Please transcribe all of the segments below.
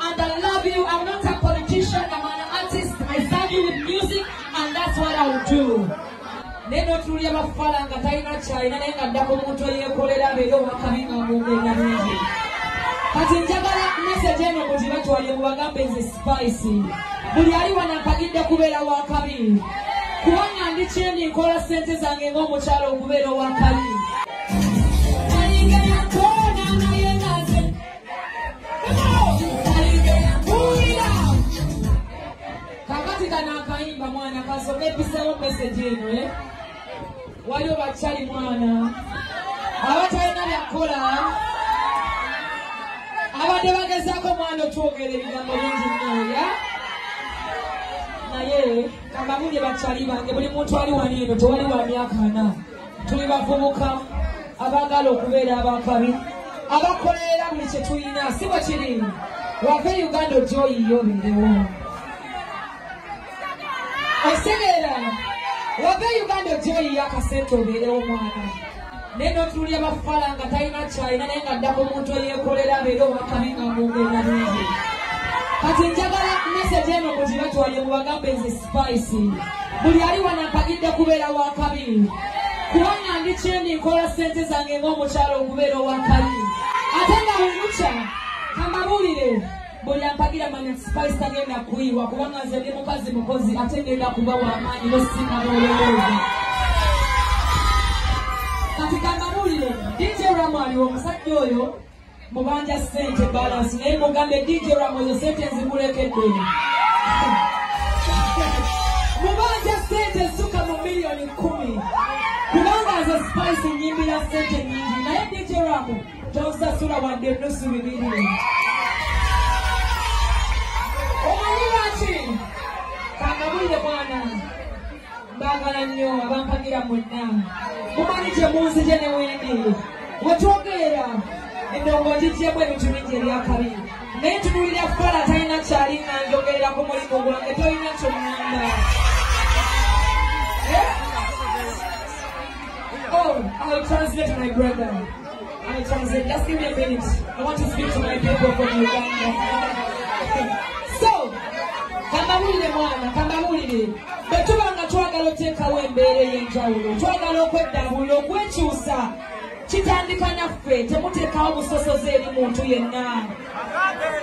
And I love you. I'm not a politician. I'm an artist. I serve you with music and that's what I will do. Neno tulia mafala nga taina chaina nenga ndako mtu yekolera beyo wakabinga mungu na mungu. Kati njagala message eno kujibatu wale mwagambe nze spicy. Buli ali wanakagide kubela wakabinga. Kuwana ndicheni nkola sente zange ngo mchalo kubela wakabinga. kakati kano akayimba mwana kasoma episewo meseji eno e eh? waliwo bakyali mwana abatalina byakukola abadde bagezaako mwana otwogera ebigambo bingi nnoya naye kambabulye bakyali bange buli muntu ali wani eno tewali wa myaka ana tuli bavubuka abaagala okubeera abakabi abakolerera buli kye tulina si bwe kiri wava e uganda ojja oyiyo obeerewo osegeera wava e uganda ojja oyiyo akasente obeerewo mwana naye notululya bafala nga talina kyalina naye nga ddako omuntu eyekolera abeere owakabi nga mumbeera bingi kati njagala mesegi eno mugibatwalye mubagambe nze Spicy. Buli ali wano akagidde kubeera wa kabiri. Kubanga ndi kyendi nkola ssente zange ng'omukyalo okubeera owa kabiri. Ate nga bwe mukya kamabulire buli ampagira manya Spice tagenda kuyiwa kubanga nze ndi mukazi mukozi ate ngenda kuba wamaanyi nosinga n'olowooza. Kati kamabulire DJ Ramu aliwo omusajja oyo mubanja sente balance naye mugambe dj ramozo sente nzikulekedde mubanja sente suka mu miliyoni kumi kubanga nze spice nyimbira sente nyingi naye dj ramo tonsasula wadde enusu bibiri omanyi lwaki kangabulire mwana mbagala nnyo abampagira mwenna mumanyi gye munzije ne wendi wetwogeera endongo ngijjemu ebintu bingi ebyakabi naye tunulira kukola talina kyali nga njogerera ku mulimu gwange tolina kyomwamba eh? Oh, I'll translate my brother. I just said, just give me a minute. I want to speak to my people from Uganda. so, kamawulire mwana, kamawulire. Bwe tuba nga twagala oteekawo embeera ey'enjawulo, twagala okweddaabulula, okwekyusa, kitandika naffe, temuteekawo busosoze eri muntu yenna.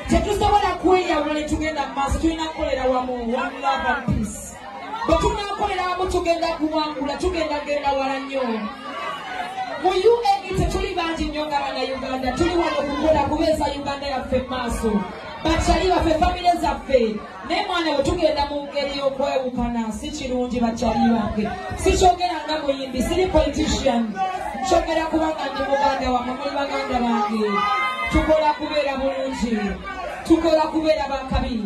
Tetusobola kweyawula ne tugenda mu maaso, tulina kukolera wamu, one love and peace. bwetunakolera wamu tugenda kuwangula tugenda genda wala nnyo mu uae tetuli bangi nnyo nga bana uganda tuli wano kukola kubeeza uganda yaffe maaso bakyali baffe famire zaffe naye mwana we tugenda mu ngeri y'okwewukana si kirungi bakyali bange sikyogera nga muyimbi siri politician nkyogera kubanga ndi muganda wamwe muli baganda bange tukola kubeera bulungi tukola kubeera bakabi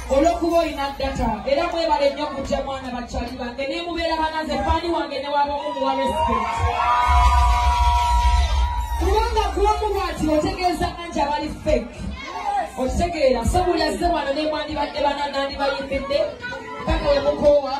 olwokuba olina data era mwebale nnyo kujja mwana bakyali bange nemubeera banaze faani wange newabamu muwa respect kubanga kuwamu bwati otegeeza anti abali fake okitegeera so buli azze wano nemwandibadde bananandibayimbidde paka wemukoowa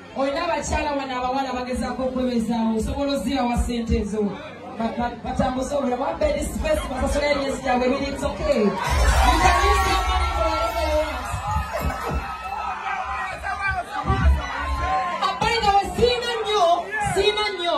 olina abakyala wano abawala bagezaako okwebezaawo osobola ozira wa sente ezo batambuza obula wa bedi space basasula emyezi gyabwe ebiri it's okay By the way, Sina Nyo, Sina Nyo,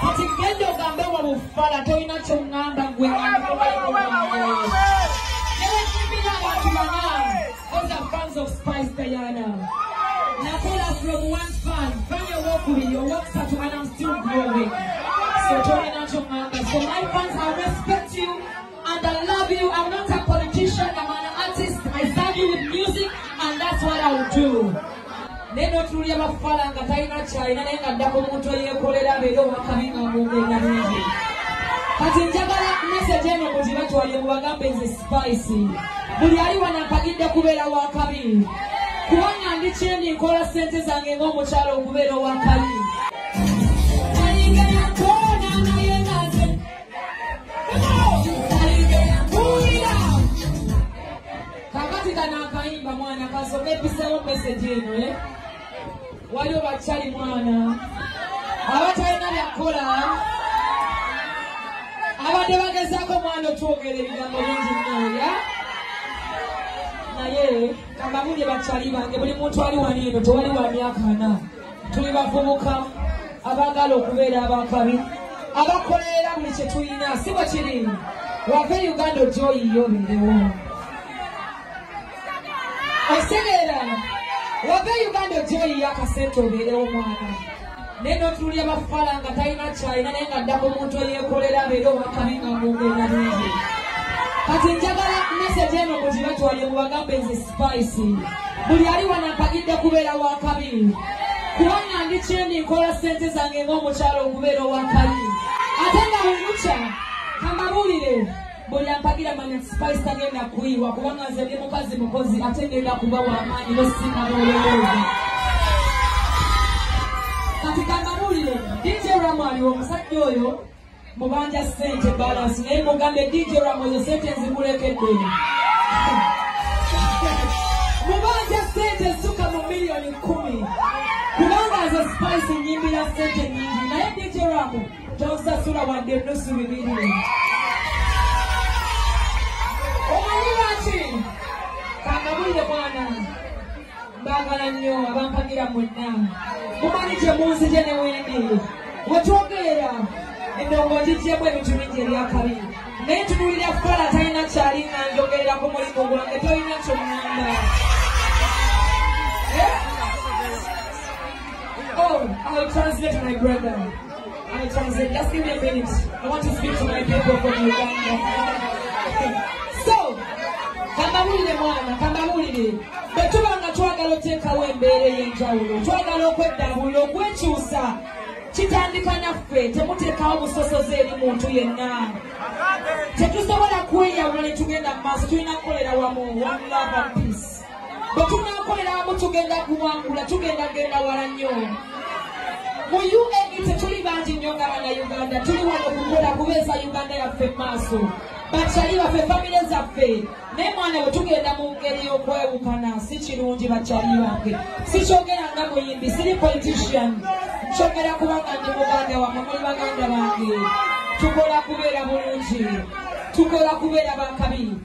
kati genda ogambe wa bufala tolina kyoŋŋamba gwe newekimbira abantu bana oza fans of spice diana nakola from one fan fan owokubiri owokusatu and am still growing so tolina kyoŋŋamba so my fans i respect you And I love you. I'm not a politician. I'm an artist. I serve you with music and that's what I will do. naye notunulya bafala nga talina kyalina naye nga dda ku muntu eyekolera abeere owakabi nga mwogenda bingi kati njagala mesage eno mugibatwalire mubagambe nze spice buli ali wano mpagidde kubeera wakabi kubanga ndi kyendi nkola sente zange ng'omukyalo okubeera owakabi kakati kano akayimba mwana kasome episewo meseji eno e eh? waliwo bakyali mwana abatalina byakukola abadde bagezaako omwana otwogera ebigambo bingi nnoya naye kambabulye bakyali bange buli muntu ali wani eno tewali wa myaka ana tuli bavubuka abaagala okubeera abakabi abakolerera buli kye tulina si bwe kiri wave uganda ogyoyiyo obeerewo osegeera wave uganda ogyoyiyo akasente obeerewo mwana naye notululi abafala nga talina kyalina naye nga dda ku muntu eyekolera abeere owakabi nga mwogera bingi kati njagala mesegi eno mugibatwalye mubagambe nze spice buli ali wano mpagidde kubeera wa kabiri kubanga ndi kyendi nkola ssente zange ng'omukyalo okubeera owa kabiri ate nga bwemukya kamabulire buli ampagira manya spice tagenda kuyiwa kubanga nze ndi mukazi mukozi ate ngenda kuba wamaanyi nosinga n'olowooza kati kamabulire dj ramu aliwo omusajja oyo mubanja sente balance naye mugambe dj ramo ezo sente nzikulekeddeni mubanja sente suka mu miliyoni kumi kubanga azo spice nyimbira sente nyingi naye dj ramo tonsasula wadde nusu bibiri omanyi lwaki kangabulire mwana Mbagala nnyo abampagira mwenna. Mumanyi gye munzije ne wendi. We twogerera endongo ngigyemu ebintu bingi ebyakabi. Naye tunuulira kukola talina kyali nga njogerera ku mulimu gwange tolina kyongamba. Eh? Oh, I'll translate my brother. kambabuulire mwana kambabuulire bwe tuba nga twagala oteekawo embeera ey'enjawulo twagala okweddabulula okwekyusa kitandika naffe temuteekawo busosozi eri muntu yenna tetusobola kweyawula ne tugenda mu maaso tulina kukolera wamu one love and peace bwe tunaakolera wamu tugenda kuwangula tugenda genda wala nnyo mu uae tetuli bangi nnyo nga bana uganda tuli wano kukola kubeeza uganda yaffe mu maaso bakyali baffe famire zaffe naye mwana we tugenda mu ngeri y'okwewukana si kirungi bakyali bange sikyogera nga muyimbi siri politician nkyogera kubanga ndi muganda wamwe muli baganda bange tukola kubeera bulungi tukola kubeera bakabi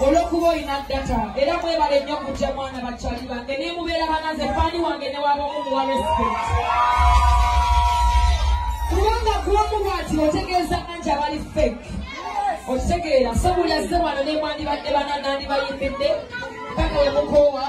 olwokuba olina data era mwebale nnyo kujja mwana bakyali bange nemubeera banaze faani wange newabamu muwa respect kubanga kuwamu bwati otegeeza anti abali fek okitegeera so buli azze wano nemwandibadde bananandibayimbidde paka yemukoowa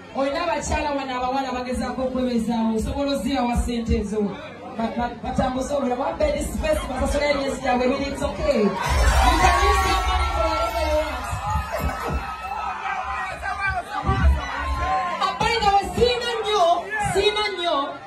olina abakyala wano abawala bagezaako okwebezaawo osobola ozirawa sente ezo batambuza obula wa bed space basasula emyezi gyabwe ebiri it's okay you can use your money for whatever you want abaina we siina nnyo siina nnyo